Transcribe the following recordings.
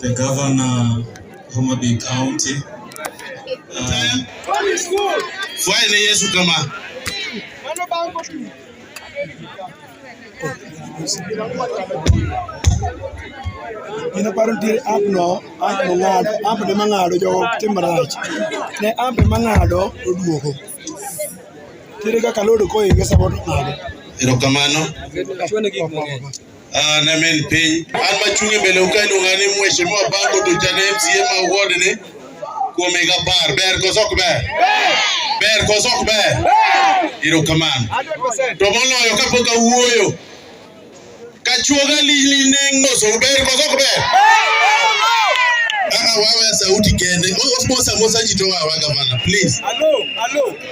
the governor Homa Bay County. Um, Fwaile Yesu kama ina paro ntiere app no app no ng'ado app ne mang'ado jogo tim marach ne app ne mang'ado oduogo ntiere kaka load koinge samoro ng'ado erokamano Ah, na men piny an machunge mbele uka iluonga ni mheshimiwa Bango to jana MCA ma ward ni kuom higa apar ber koso ok ber ber koso ok ber erokamano to moloyo kapok awuoyo kachuoga lili neng' moso ber koso ok ber Ah, wawe sauti kende omosa mosa ji to wawa gavana please Hello, hello.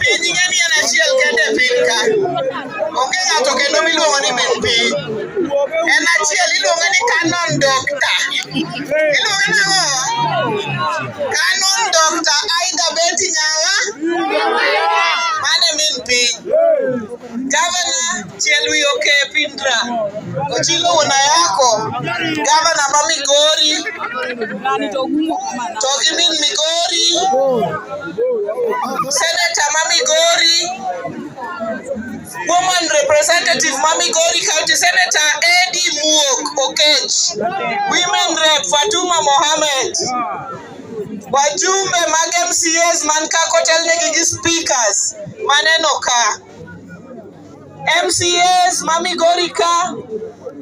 piny ing'e ni en achiel kende e piny ka onge ng'ato kendo miluongo ni min piny en achiel iluonge ni canon doctor iluonge nang'o canon doctor aida beti nyawa mane min piny Gavana Chelwi Okepindra Ochilo wuon ayako gavana ma Migori to gi min Migori seneta ma Migori woman representative ma Migori county senator Eddie Muok Okech women rep Fatuma Mohammed Wajumbe mag MCAs man ka kotelnegi gi speakers maneno ka. MCAs ma Migori ka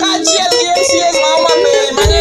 kaachiel gi MCAs ma Homa Bay mane